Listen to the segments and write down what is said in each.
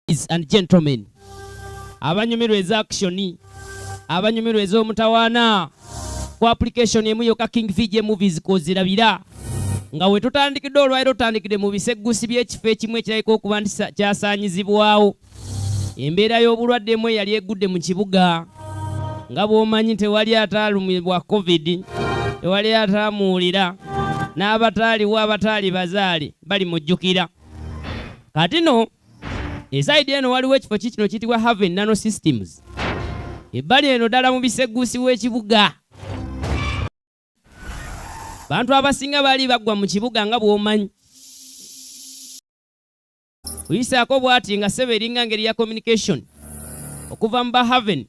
ladies and gentlemen abanyumirwa eza akishoni abanyumirwa ez'omutawaana ku application emu yoka king vj movies kozirabira nga we tutandikidde olwaliro tutandikidde mu biseggusi by'ekifo ekimu ekirabika okuba nti kyasaanyizibwawo embeera y'obulwadde emu eyali egudde mu kibuga nga bw'omanyi tewali ataalumibwa covid tewali ataamuwulira n'abataaliwo abataali bazaale bali mujjukira kati no esaidi eno waliwo ekifo kikino kiyitibwa haven nano systems ebbali eno ddala mu biseguusi w'ekibuga bantu abasinga baali baggwa mu kibuga nga bw'omanyi kuyisaako bw'ati nga sebe eringa ngeri ya communication okuva mu bahaven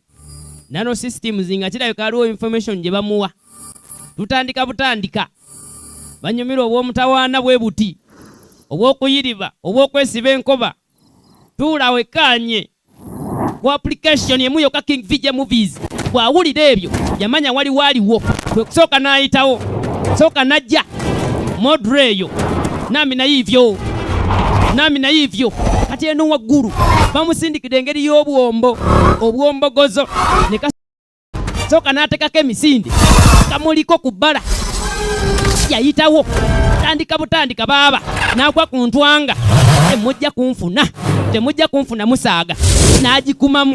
nano systems nga kirabika aliwo information gye bamuwa tutandika butandika banyumirwa obw'omutawaana bwe buti obw'okuyiriba obw'okwesiba enkoba tuula wekkaanye ku application emu yokka king vj movies bw'awulira ebyo yamanya waliwo aliwo kwe kusooka n'ayitawo sooka najja modre eyo nami naye ivyo nami naye ivyo kati eno waggulu bamusindikidde engeri y'obwombo obwombogozo soka n'atekako emisinde kamuliko ku bbala yayitawo tandika butandika baaba n'agwa ku ntwanga temujja kunfuna temujja kunfuna musaaga n'agikumamu